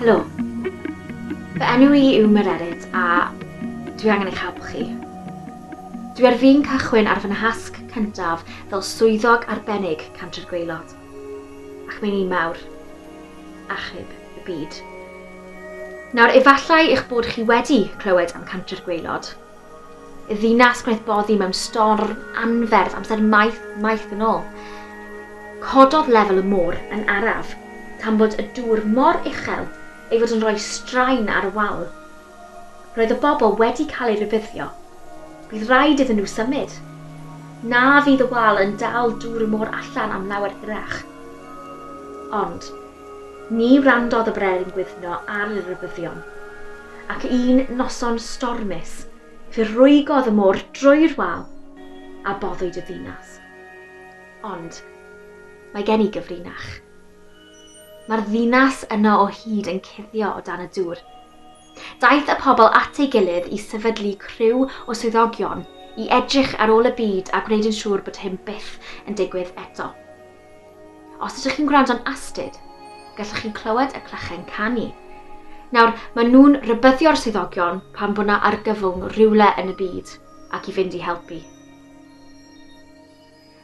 Helo. Fy enw i yw Mererid a dwi angen eich helpu chi. Dwi ar fin cychwyn ar fy nhasg cyntaf fel Swyddog Arbennig Cantre'r Gwaelod, ac mae'n un mawr. Achub y byd. Nawr, efallai eich bod chi wedi clywed am Cantre'r Gwaelod, Y ddinas gwnaeth boddi mewn storm anferth amser maith, maith yn ôl. Cododd lefel y môr yn araf, tan bod y dŵr mor uchel ei fod yn rhoi straen ar y wal. Roedd y bobl wedi cael eu rhybuddio. Bydd rhaid iddyn nhw symud. Na fydd y wal yn dal dŵr y môr allan am lawer hirach. Ond, Ni wrandodd y brenin gwyddno ar y rhybuddion, ac un noson stormus fe rwygodd y môr drwy'r wal a boddwyd y ddinas. Ond mae gen i gyfrinach. Mae'r ddinas yno o hyd yn cuddio o dan y dŵr. Daeth y pobl at ei gilydd i sefydlu criw o swyddogion i edrych ar ôl y byd a gwneud yn siŵr bod hyn byth yn digwydd eto. Os ydych chi'n gwrando'n astud, gallwch chi'n clywed y clychau'n canu. Nawr, mae nhw'n rybyddio'r swyddogion pan bod na argyfwng rhywle yn y byd ac i fynd i helpu.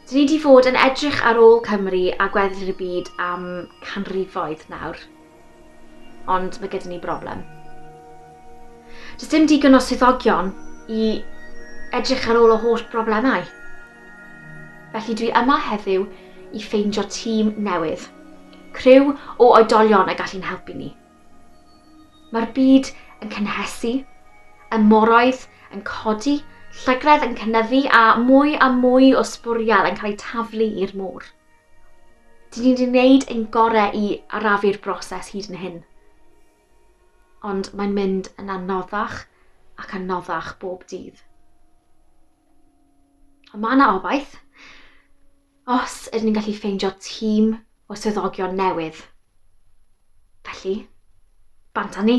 Dyn ni wedi fod yn edrych ar ôl Cymru a gweddill y byd am canrifoedd nawr. Ond mae gyda ni broblem. Does dim digon o swyddogion i edrych ar ôl y holl broblemau. Felly dwi yma heddiw i ffeindio tîm newydd, criw o oedolion y gallu'n helpu ni. Mae'r byd yn cynhesu, y moroedd yn codi, llygredd yn cynyddu a mwy a mwy o sbwriel yn cael eu taflu i'r môr. Dyn ni wedi gwneud ein gorau i arafu'r broses hyd yn hyn, ond mae'n mynd yn anoddach ac anoddach bob dydd. Ond mae yna obaith. Os ydyn ni'n gallu ffeindio tîm o swyddogion newydd, felly, bant â ni.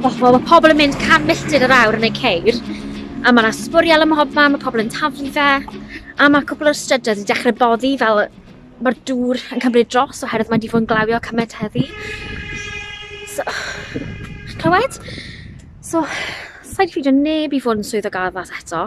Wel, mae pobl yn mynd can milltir yr awr yn eu ceir, a mae yna sbwriel ym mhob man, mae pobl yn taflu fe, a mae cwpl o'r strydoedd wedi dechrau boddi fel mae'r dŵr yn cymryd dros oherwydd mae wedi bod yn glawio cymaint heddi. So, chi'n clywed? So, sa i 'di ffeindio neb i fod yn swyddog addas eto.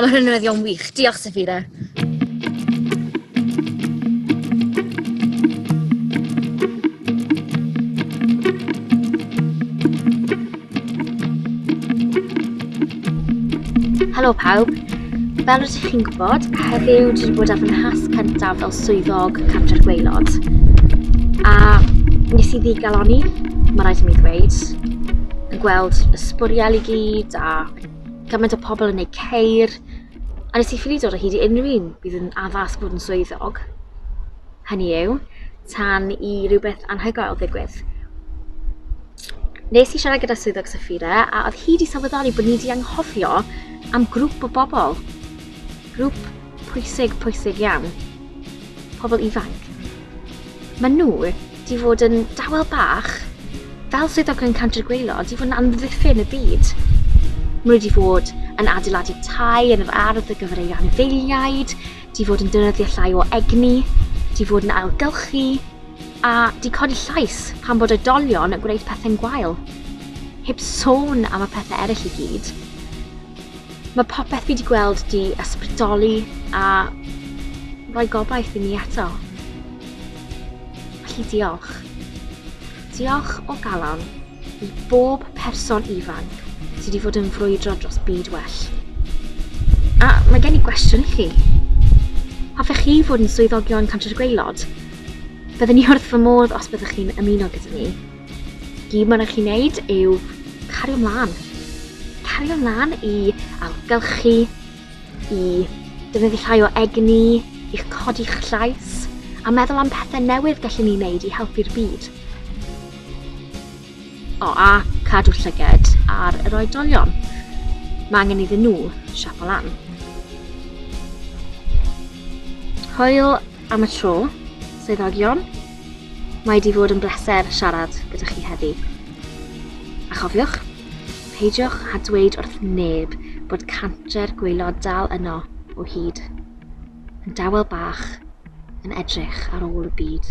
Ond mae hyn yn newyddion wych. Diolch, Safira. Helo pawb, fel rydych chi'n gwybod, heddiw dwi wedi bod ar fy nhas cyntaf fel swyddog cartref gweilod. A nes i ddigaloni, mae rhaid i mi ddweud, yn gweld y sbwriel i gyd a gymaint o pobl yn ei ceir, a nes i ffili dod o hyd i unrhyw un bydd yn addas bod yn swyddog. Hynny yw, tan i rhywbeth anhygoel ddigwydd. Nes i siarad gyda swyddog Safira a oedd hi wedi sylweddoli bod ni wedi anghofio am grŵp o bobl. Grŵp pwysig, pwysig iawn. Pobl ifanc. Mae nhw 'di fod yn dawel bach, fel swyddogion Cantre'r Gwaelod, 'di fod yn amddiffyn y byd. Mae nhw 'di fod yn adeiladu tai yn yr ardd ar gyfer eu anifeiliaid, 'di fod yn dynyddio llai o egni, 'di fod yn ailgylchu, a 'di codi llais pan bod oedolion yn gwneud pethau'n gwael. Heb sôn am y pethau eraill i gyd. Mae popeth fi 'di gweld 'di ysbrydoli a rhoi gobaith i mi eto. Felly diolch. Diolch o galon i bob person ifanc sydd wedi fod yn frwydro dros byd well. A mae gen i gwestiwn i chi. Hoffech chi fod yn swyddogion Cantref Gweilod? Byddwn ni wrth fy modd os byddwch chi'n ymuno gyda ni. Gyd mae'n eich i wneud yw cario mlaen. Cario mlaen i ailgylchu, i defnyddio llai o egni, i'ch codi'ch llais, a meddwl am pethau newydd gallwn ni wneud i helpu'r byd. O, a cadw llyged ar yr oedolion. Mae angen iddyn nhw siapo lan. Hwyl am y tro, swyddogion. Mae 'di fod yn bleser siarad gyda chi heddi. A chofiwch, peidiwch â dweud wrth neb bod canter gwaelod dal yno o hyd, yn dawel bach yn edrych ar ôl y byd.